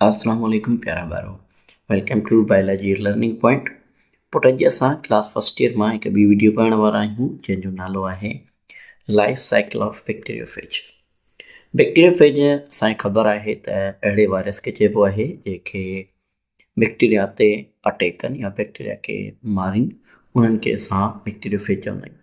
اسلام عليڪم پيارا ٻارو welcome to biology learning point پٽ اڄ اسان ڪلاس فرسٽ ايئر مان هڪ ٻي ويڊيو پڙهڻ وارا آهيون جنهن جو نالو آهي life cycle of bacteriophage bacteriophage اسانکي خبر آهي ته اهڙي وائرس کي چئبو آهي جيڪي بيڪٽيريا تي اٽيڪ ڪن يا بيڪٽيريا کي مارين انهن کي اسان بيڪٽيريوفيج چوندا آهيون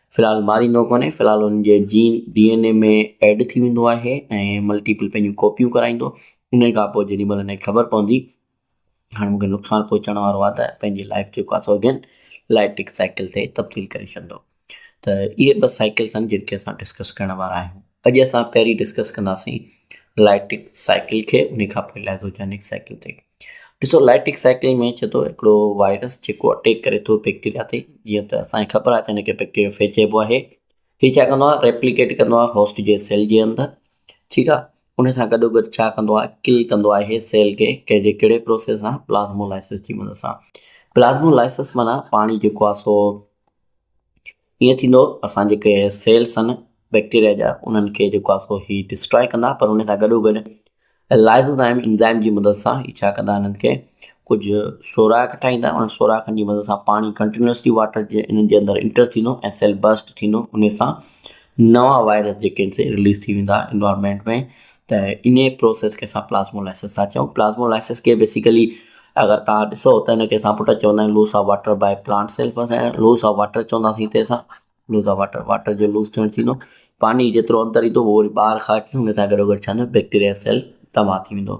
في الحال ماريندو ڪونهي، في الحال ان جي gene D N A ۾ add ٿي ويندو آهي ۽ ملٽيپل پنهنجون ڪاپيون ڪرائيندو، انهي کان پوء جيڏي مهل هنکي خبر پوندي هاڻي مونکي نقصان پهچڻ وارو آهي ته پنهنجي لائيف جيڪو آهي سو اگين الائٽرڪ سائيڪل تي تبديل ڪري ڇڏندو ته اهي ٻه سائيڪلس آهن جن کي اسان ڊسڪس ڪرڻ وارا آهيون اڄ اسان پهرين ڊسڪس ڪنداسين الائٽرڪ سائيڪل کي انهي کان پوء لائزوجينڪ سائيڪل تي ڏسو لائيٽڪ سائيڪل ۾ چئي ٿو هڪڙو وائرس جيڪو اٽيڪ ڪري ٿو بيڪٽيريا تي جيئن ته اسان کي خبر آهي ته هن کي بيڪٽيريو فيج چئبو آهي هي ڇا ڪندو آهي ريپليڪيٽ ڪندو آهي هوسٽ جي سيل جي اندر ٺيڪ آهي ان سان گڏو گڏ ڇا ڪندو آهي ڪل ڪندو آهي سيل کي ڪنهنجي ڪهڙي پروسيس سان پلازمو لائسس جي مدد سان پلازمو لائسس معنيٰ پاڻي جيڪو آهي سو ايئن ٿيندو اسان جيڪي سيلس آهن بيڪٽيريا جا انهن کي جيڪو آهي سو هي ڊسٽراء ڪندا پر ان سان گڏو گڏ لائزوزائم انزائم جي مدد سان هي ڇا ڪندا انهن کي ڪجهه سوراخ ٺاهيندا انهن سوراخن جي مدد سان پاڻي ڪنٽينيوسلي واٽر جي انهن جي اندر انٽر ٿيندو ۽ سيل برسٽ ٿيندو ان سان نوان وائرس جيڪي آهن سي رليز ٿي ويندا انوائرمينٽ ۾ ته انهيء پروسيس کي اسان پلازمولائسس ٿا چئون. پلازمولائسس کي بيسيڪلي اگر توهان ڏسو ته ان کي اسان پٽ چوندا آهيون loss of water by plant self ۽ loss of water چونداسين هتي اسان لوس آف واٽر واٽر جو لوس ٿيڻ ٿيندو پاڻي جيترو اندر ايندو اهو وري ٻاهر خارج ٿيندو ان سان گڏوگڏ ڇا ٿيندو بيڪٽيريا سيل تباهه ٿي ويندو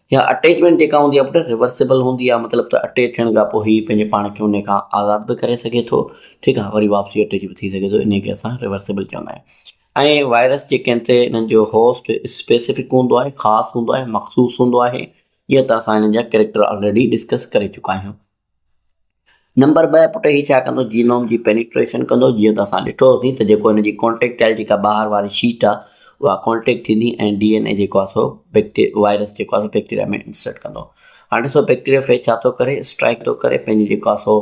اها اٽيچمينٽ جيڪا هوندي آهي پٽ ريورسيبل هوندي آهي مطلب ته اٽيچ ٿيڻ کان پوء هي پنهنجي پاڻ کي انهي کان آزاد به ڪري سگهي ٿو ٺيڪ آهي وري واپسي اٽيچ به ٿي سگهي ٿو انهي کي اسان ريورسيبل چوندا آهيون ۽ وائرس جيڪي آهن تي انهن جو هوسٽ اسپيسفڪ هوندو آهي خاص هوندو آهي مخصوص هوندو آهي جيئن ته اسان انهن جا ڪريڪٽر آلريڊي ڊسڪس ڪري چڪا آهيون نمبر ٻه پٽ هي ڇا ڪندو جينوم جي پينيٽريشن ڪندو جيئن ته اسان ڏٺو هوسين ته جيڪو هن جي ڪونٽيڪٽائل جيڪا ٻاهر واري شيٽ آهي اها ڪونٽيڪٽ ٿيندي ۽ ڊي اين اي جيڪو آهي سو بيڪٽي وائرس جيڪو آهي سو بيڪٽيريا ۾ انسرٽ ڪندو هاڻي ڏسو بيڪٽيريا فيج ڇا ٿو ڪري اسٽرائڪ ٿو ڪري پنهنجي جيڪو آهي سو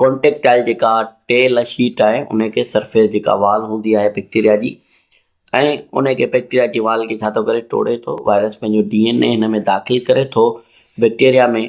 ڪونٽيڪٽائل جيڪا ٽيل شيٽ آهي ان کي سرفيس جيڪا وال هوندي آهي بيڪٽيريا جي ۽ ان کي بيڪٽيريا جي وال کي ڇا ٿو ڪري ٽوڙي ٿو وائرس پنهنجو ڊي اين اي هن ۾ داخل ڪري ٿو بيڪٽيريا ۾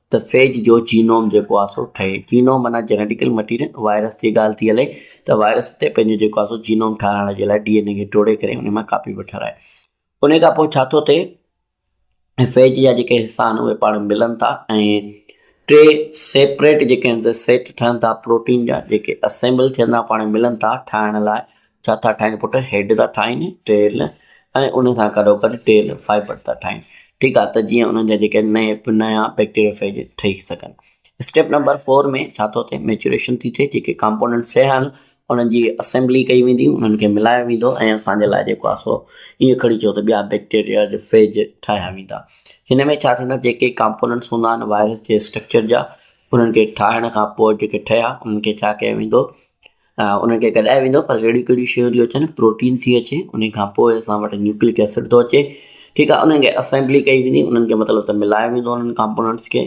ته فيج جو جينوم جيڪو آهي سو ٺهي. جينوم معنيٰ جينيٽيڪل مٽيريل، وائرس جي ڳالهه ٿي هلي ته وائرس تي پنهنجو جيڪو آهي سو جينوم ٺاهرائڻ جي لاء ڊي اين اي کي ٽوڙي ڪري انهي مان ڪاپي پيو ٺاهرائي. انهي کان پوء ڇا ٿو ٿئي ۽ فيج جا جيڪي حصا آهن اهي پاڻ ملن ٿا ۽ ٽي سيپريٽ جيڪي آهن سيٽ ٺهن ٿا پروٽين جا جيڪي اسيمبل ٿيندا پاڻ ملن ٿا ٺاهڻ لاء ڇا ٿا ٺاهين پٽ؟ هيڊ ٿا ٺاهين ٽيل ۽ ان سان گڏوگڏ ٽيل فائبر ٿا ٺاهين ٺيڪ آهي ته جيئن انهن جا جيڪي نئين نيا بيڪٽيريوفيج ٺهي سگهن. اسٽيپ نمبر فور ۾ ڇا ٿو ٿئي ميچوريشن ٿي ٿئي جيڪي ڪامپونينٽ سي آهن انهن جي اسيمبلي ڪئي ويندي انهن کي ملايو ويندو ۽ اسان جي لاء جيڪو آهي سو ائين کڻي چئو ته ٻيا بيڪٽيريا جي فيج ٺاهيا ويندا هن ۾ ڇا ٿيندا جيڪي ڪامپونينٽس هوندا آهن وائرس جي اسٽرڪچر جا انهن کي ٺاهڻ کان پوء جيڪي ٺهيا انهن کي ڇا ڪيو ويندو انهن کي گڏايو ويندو پر اهڙيون ڪهڙيون شيون ٿيون اچن پروٽين ٿي اچي ان کان پوء اسان وٽ نيوڪلڪ ايسڊ ٿو اچي ٺيڪ آهي انهن کي اسيمبلي ڪئي ويندي انهن کي مطلب ته ملايو ويندو انهن ڪامپوننٽس کي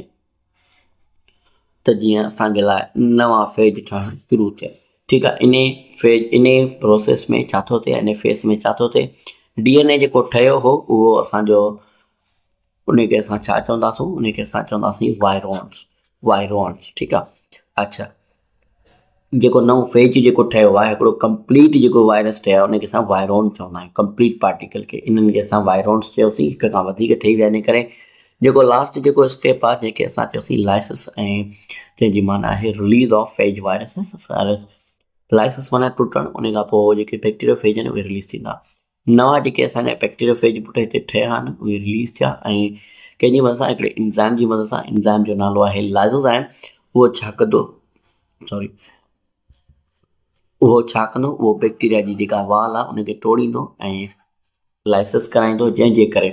ته جيئن اسانجي لاء نوان فيج ٺهڻ شروع ٿئي ٺيڪ آهي ان فيج ان پروسيس ۾ ڇا ٿو ٿئي ان فيس ۾ ڇا ٿو ٿئي ڊي ان اي جيڪو ٺهيو هو اهو اسانجو انهي کي اسان ڇا چونداسون انهي کي اسان چونداسين وائرونس وائرونس ٺيڪ آ اڇا جيڪو نئون فيج جيڪو ٺهيو آهي هڪڙو ڪمپليٽ جيڪو وائرس ٺهيو آهي انهي کي اسان وائرون چوندا آهيون ڪمپليٽ پارٽيڪل کي انهن کي اسان وائرونس چيوسين هڪ کان وڌيڪ ٺهي ويا انهي ڪري جيڪو لاسٽ جيڪو اسٽيپ آهي جنهن کي اسان چيوسين لائسس ۽ جنهن جي معنيٰ آهي release of phage viruses lysis معنيٰ ٽٽڻ انهي کان پوء جيڪي بيڪٽيريو فيج آهن اهي رليز ٿيندا نوان جيڪي اسان جا بيڪٽيريوفيج بوٽا هتي ٺهيا آهن اهي رليز ٿيا ۽ ڪنهن جي مدد سان هڪڙي انزائم جي مدد سان انزائم جو نالو آهي لائزوزائم اهو ڇا ڪندو سوري اهو ڇا ڪندو اهو بيڪٽيريا جي جيڪا وال آهي ان کي ٽوڙيندو ۽ لائسس ڪرائيندو جنهن جي ڪري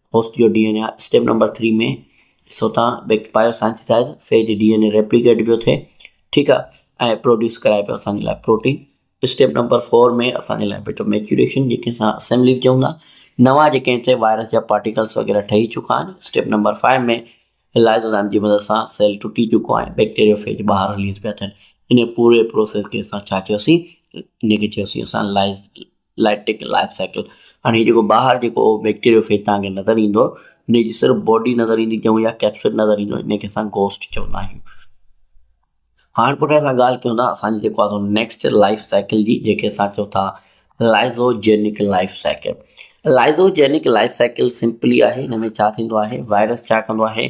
هوسٽ جو D N A step number three ۾ ڏسو تان بيڪ بايو سائنسائز فيج جي ڊي اين اي ريپليڪيٽ پيو ٿئي ٺيڪ آ ۽ پروڊيوس ڪرائي پيو اسان جي لاء پروٽين اسٽيپ نمبر فور ۾ اسان جي لاء بيٽو ميچوريشن جي کي اسان اسيمبلي به چئون ٿا نوان جي ڪنهن تي وائرس جا پارٽيڪلس وغيره ٺهي چڪا آهن اسٽيپ نمبر فائيو ۾ لائزوزائم جي مدد سان سيل ٽٽي چڪو آهي بيڪٽيريو فيج ٻاهر رليز پيا ٿين ان پوري پروسيس کي اسان ڇا چيوسي ان کي چيوسي اسان lyse life taken life cycle هاڻي جيڪو ٻاهر جيڪو بيڪٽيريو فيج تهان کي نظر ايندو انهي جي صرف باڊي نظر ايندي چئون يا ڪيپسول نظر ايندو انهي کي اسان گوسٽ چوندا آهيون هاڻ پٽ اسان ڳالهه ڪيون ٿا اسان جي جيڪو آهي نيڪسٽ لائيف سائيڪل جي جيڪي اسان چئون ٿا lysogenic life cycle lysogenic life cycle simply آهي هن ۾ ڇا ٿيندو آهي وائرس ڇا ڪندو آهي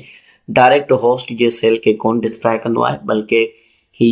ڊائريڪٽ هوسٽ جي سيل کي ڪون ڊسٽراء ڪندو آهي بلڪه هي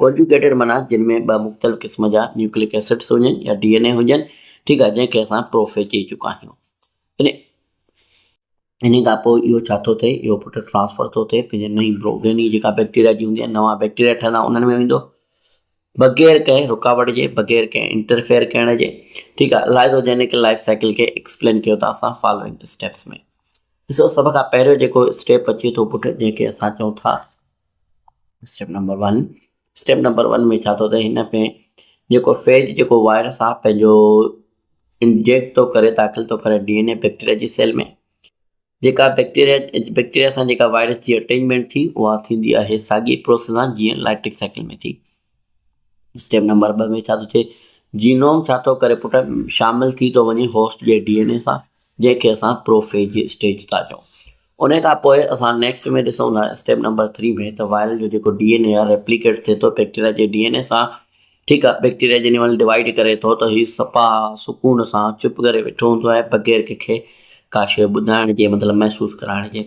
ڪونجوگيٽيڊ معنيٰ جن ۾ ٻه مختلف قسم جا نيوڪليڪ ايسڊز هجن يا ڊي اين اي هجن، ٺيڪ آهي، جنهن کي اسان پروفيز چئي چڪا آهيون. انهي انهي کان پوء اهو ڇا ٿو ٿئي، اهو پٽ ٽرانسفر ٿو ٿئي پنهنجي نئين پروگيني جيڪا بيڪٽيريا جي هوندي آهي، نوان بيڪٽيريا ٺهندا انهن ۾ ويندو، بغير ڪنهن رڪاوٽ جي، بغير ڪنهن انٽرفيئر ڪرڻ جي، ٺيڪ آهي، لائزوجينڪ لائيف سائيڪل کي ايڪسپلين ڪيو ٿا اسان فالوئنگ اسٽيپس ۾. ڏسو سڀ کان پهريون جيڪو اسٽيپ اچي ٿو پٽ جنهن کي اسان چئون ٿا. Step number one step number one ۾ ڇا ٿو ته هن ۾ جيڪو فيج جيڪو وائرس آ پنهنجو انجيڪٽ ٿو ڪري داخل ٿو ڪري ڊي اين اي بيڪٽيريا جي سيل ۾ جيڪا بيڪٽيريا بيڪٽيريا سان جيڪا وائرس جي اٽينجمينٽ ٿي اها ٿيندي آهي ساڳي پروسيس سان جيئن لائٽڪ سائيڪل ۾ ٿي اسٽيپ نمبر ٻه ۾ ڇا ٿو ٿئي، جينوم ڇا ٿو ڪري پٽ، شامل ٿي ٿو وڃي هوسٽ جي ڊي اين اي سان، جنهن کي اسان پروفيج جي اسٽيج ٿا چئون. ان کان پوء اسان نيڪسٽ ۾ ڏسون ٿا اسٽيپ نمبر ٿري ۾ ته وائرل جو جيڪو ڊي اين اي آهي ريپليڪيٽ ٿئي ٿو بيڪٽيريا جي ڊي اين اي سان، ٺيڪ آهي، بيڪٽيريا جنهن مهل ڊوائيڊ ڪري ٿو ته هي صفا سڪون سان چپ ڪري ويٺو هوندو آهي بغير ڪنهن کي ڪا شيء ٻڌائڻ جي مطلب محسوس ڪرائڻ جي.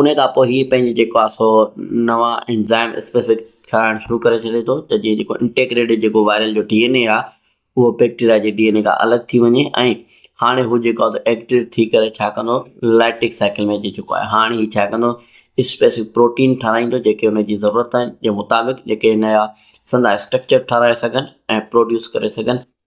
انهيء کان پوء هي پنهنجي جيڪو آهي سو نوان انزائم اسپيسفڪ ٺاهڻ شروع ڪري ڇڏي ٿو ته جيئن جيڪو انٽيگريٽيڊ جيڪو وائرل جو ڊي اين اي آهي اهو بيڪٽيريا جي ڊي اين اي کان الڳ ٿي وڃي ۽ هاڻي هو جيڪو آهي ايڪٽيويٽ ٿي ڪري ڇا ڪندو لائٽيڪ سائيڪل ۾ اچي چڪو آهي هاڻي هي ڇا ڪندو اسپيسفڪ پروٽين ٺاراهيندو جيڪي ان جي ضرورت آهن جي مطابق جيڪي نيا سندا اسٽرڪچر ٺاراهي سگهن ۽ پروڊيوس ڪري سگهن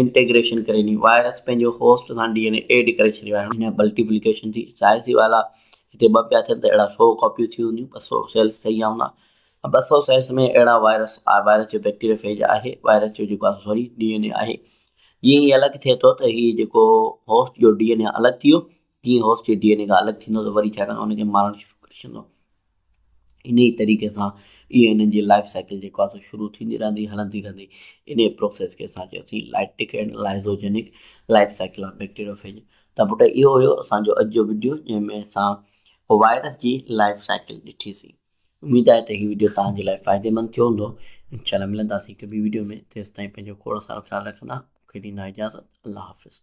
انٽيگريشن ڪري ني وائرس پنهنجو هوسٽ سان ڊي اين اي ايڊ ڪري ڇڏيو آهي هن بلٽيپليڪيشن ٿي ظاهر سي وال آ هتي ٻه پيا ٿين ته اهڙا سو ڪاپيون ٿي هونديون ٻه سو سيلس ٺهي ويا هوندا ۽ ٻه سو سيلس ۾ اهڙا وائرس آ وائرس جو بيڪٽيريا فيج آهي وائرس جو جيڪو آهي سوري ڊي اين اي آهي جيئن هي الڳ ٿئي ٿو ته هي جيڪو هوسٽ جو ڊي اين اي الڳ ٿي ويو جيئن هوسٽ جي ڊي اين اي کان الڳ ٿيندو ته وري ڇا ڪندو ان کي مارڻ شروع ڪري ڇڏيندو انهي طريقي سان اي اين اين جي لائف سائيڪل جيڪو آهي سو شروع ٿيندي رهندي هلندي رهندي انهي پروسيس کي اسان چيوسين lytic and lysogenic life cycle of bacteriophage ته پٽ اهو هيو اسان جو اڄ جو وڊيو جنهن ۾ اسان وائرس جي لائف سائيڪل ڏٺي سي اميد آهي ته هي وڊيو توهان جي لاء فائديمند ٿيو هوندو انشاء الله ملنداسين هڪ ٻي وڊيو ۾ تيستائين پنهنجو کوڙ سارو خيال رکندا مون کي ڏيندا اجازت الله حافظ